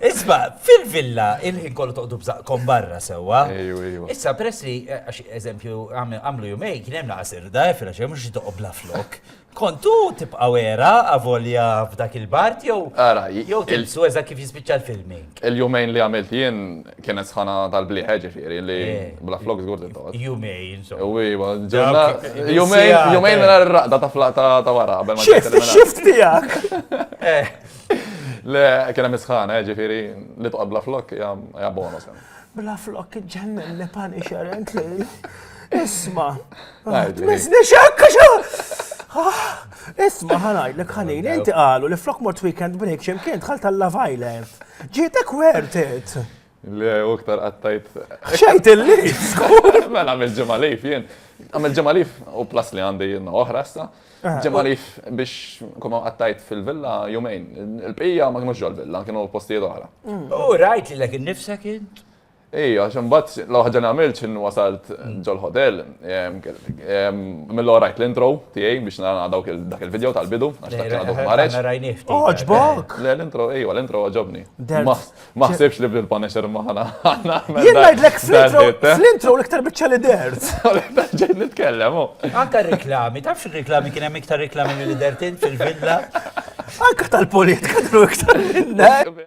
Isma, fil-villa, il-ħin kollu toqdu bżaqkom barra sewa. Issa, peress li, eh, għax eżempju, għamlu jumej, kien hemm naqsir da, eh, fil-ġem, mux toqob bla flok. Kontu tibqa wera, avolja f'dak il-bart, jew. Ara, jew tilsu eża kif jispiċċa l-filming. Il-jumejn li għamilt jien kienet sħana tal-bliħe ġifiri li eh, bla flok zgur t-tot. Jumejn, insomma. Uwiba, ġurna. Jumejn, jumejn mela r-raqda ta' flata ta' wara. Xift, xift tijak. Le, kien hemm isħana, eh, ġifieri li toqgħod bla flok hija bonus. Eh. Bla flok ġennen li pani xerent li. Isma. Mizni xekka xo! Ah, isma ħanaj li ħanin, inti qalu li flok mort weekend break xemkien tħalt tal-Love Island. Ġietek wertet. Le, u iktar għattajt. Xajt illi! Mela, għamil ġemalif jien. Għamil ġemalif u plas li għandi jien oħra sta. Eh, ġemalif biex kuma għattajt fil-villa jumejn. Il-pija ma kienu ġol villa, kienu postijiet oħra. Mm. U rajt li l-ek nifsek int? Ej, għaxem bat, laħġa namilċ in wasalt ġol hotel, mill rajt l-intro tijaj biex nara dawk dak il-video tal-bidu, għax dak kena dok mareċ. Oġbok! Le, l-intro, ej, l-intro għagħobni. Ma ħsibx li bil punisher ma ħana. Jien ngħidlek fl-intro l-iktar biċċa li dert. Ġejt nitkellem. Anka reklami, tafx reklami kien hemm iktar reklami mill dert int fil-villa. Anka tal-politika kienu iktar minnek.